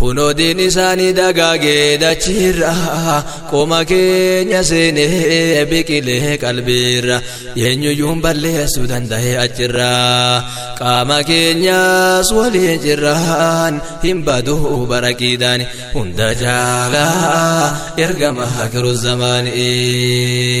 Kunoo diin isaanii dagaagee dachiirra Qoma keenya seenee biqilee qalbiirra Eenyuyyuun balleessuu danda'e achirra Qaama keenyas waliin jirraan Hin badu baraqiidhaan hunda jaalaa Ergama akhiru zamaanii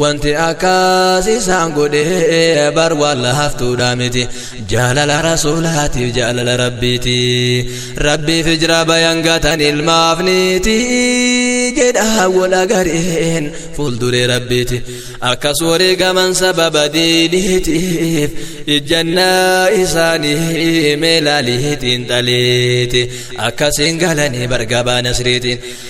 Wanti akkas isaan godhe bar waan laaftuudha miti jaalala rasuulaatiif jaalala rabbiiti rabbiif ijra bayan gatan ilmaaf niiti jedha wal agareen fuulduree rabbiiti akkas wareegaman sababa diiniitiif ijjannaa isaanii meelaaliitiin xaliiti akkasiin galanii bargabaa nasriitiin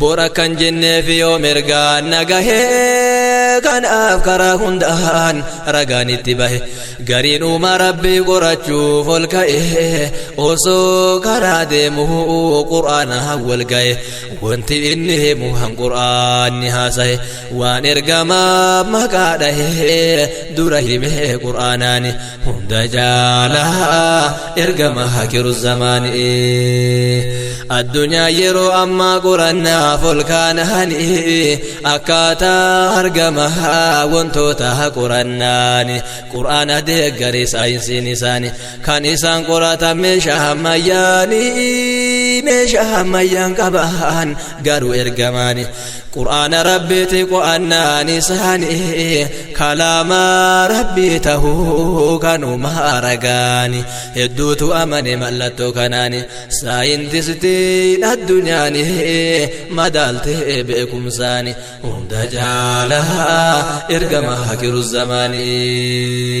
Bor akkan jenneef yoo mirgaan nagahee kanaaf karaa hundaan ragaan itti bahe gariin uuma rabbii qorachuuf ol ka'e osoo karaa deemu qur'aanaan wal ga'e wanti inni himu han qur'aanni haasahe waan ergamaa maqaa dhahe dura hime qur'aanaani hunda caalaa ergama hakiru zamaanii addunyaa yeroo ammaa qorannaaf ol kaananii akkaataa argama wantoota qorannaani quraana deeggaree saayinsiin isaanii kan isaan qoratan meeshaa ammayyaanii meeshaa ammayyaan qaban garuu ergamaani Qur'aana Rabbiiti qo'annaan isaanii kalaama Rabbii tahuu kanuma aragaani hedduutu amane mallattoo kanaani saayintistiin addunyaani madaaltee beekumsaani hunda caalaa ergama hakiru zamaanii.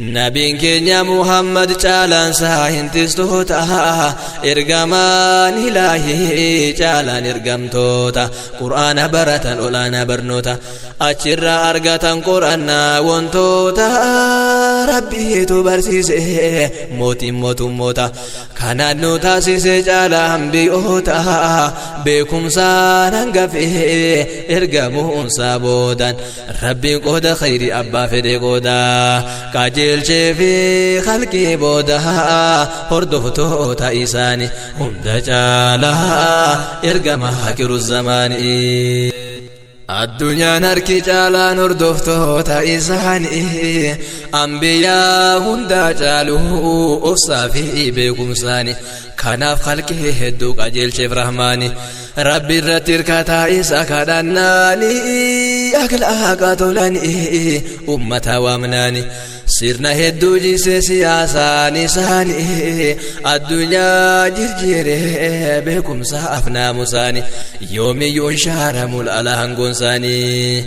Nabiin keenya Muhammad caalaan isaa hin tistoota ergamaan ilaahii caalaan ergamtoota quraana baratan olaanaa barnoota achirraa argatan qorannaa wantoota rabbiitu barsiise mootiin mootummoota kanaan nu taasise caalaa hambiyoota beekumsaan hangafee ergamuunsaa boodan Rabbiin qooda khayrii abbaa fedhe qooda qajeelchee fi khalqii booda hordoftoota isaani hunda caala ergama hakiru zamaanii. Addunyaan harki caalaan hordoftoota isaanii ambiyaa hundaa caalu obsaa fi beekumsaani kanaaf khalqii hedduu qajeelcheef rahmaani. Rabbi irratti hirkataa isa kadhannaani akhlaaqa tolani ummata waamnaani sirna hedduu jiisee siyaasaan isaani addunyaa jirjiire beekumsa afnaamusaani yoomiyyuu hin shaaramu laalaan goonsaanii.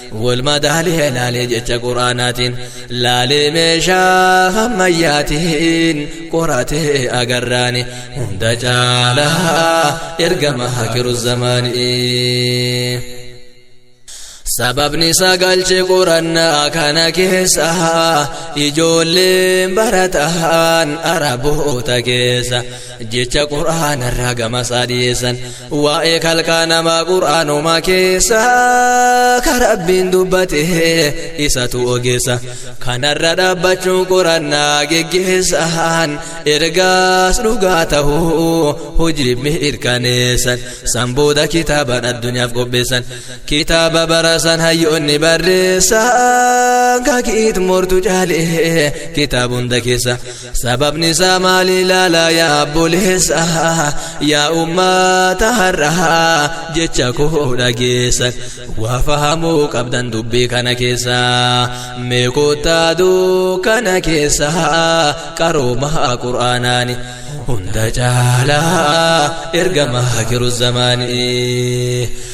wal madaalee laalee jecha quraanaatiin laalee meeshaa hammayyaatiin qoratee agarraani hunda caalaa ergama hakiru zamaanii. sababni isaa galche qorannaa kana keessa ijoolleen barataan araboota keessa jecha qur'aanarraa gamasaa dhiyeessan waa'ee kalqaa namaa qur'aanumaa keessa ka rabbiin dubbate isatu ogeessa kanarra dhaabbachuun qorannaa geggeessaan ergaas dhugaa ta'uu hojiif mirkaneessan san booda kitaabaan addunyaaf qopheessan kitaaba barasan hayyoonni barreessan kakiit mortu caalee kitaaba hunda keessa Sababni isaa maali ilaalaa yaa obboleessa yaa ummata har'aa jecha koo dhageessa waa fahamuu qabdan dubbii kana keessa mee kottaa dukkana keessa qaroomaa qur'aanaani hunda caalaa ergamaa jiru zamaanii.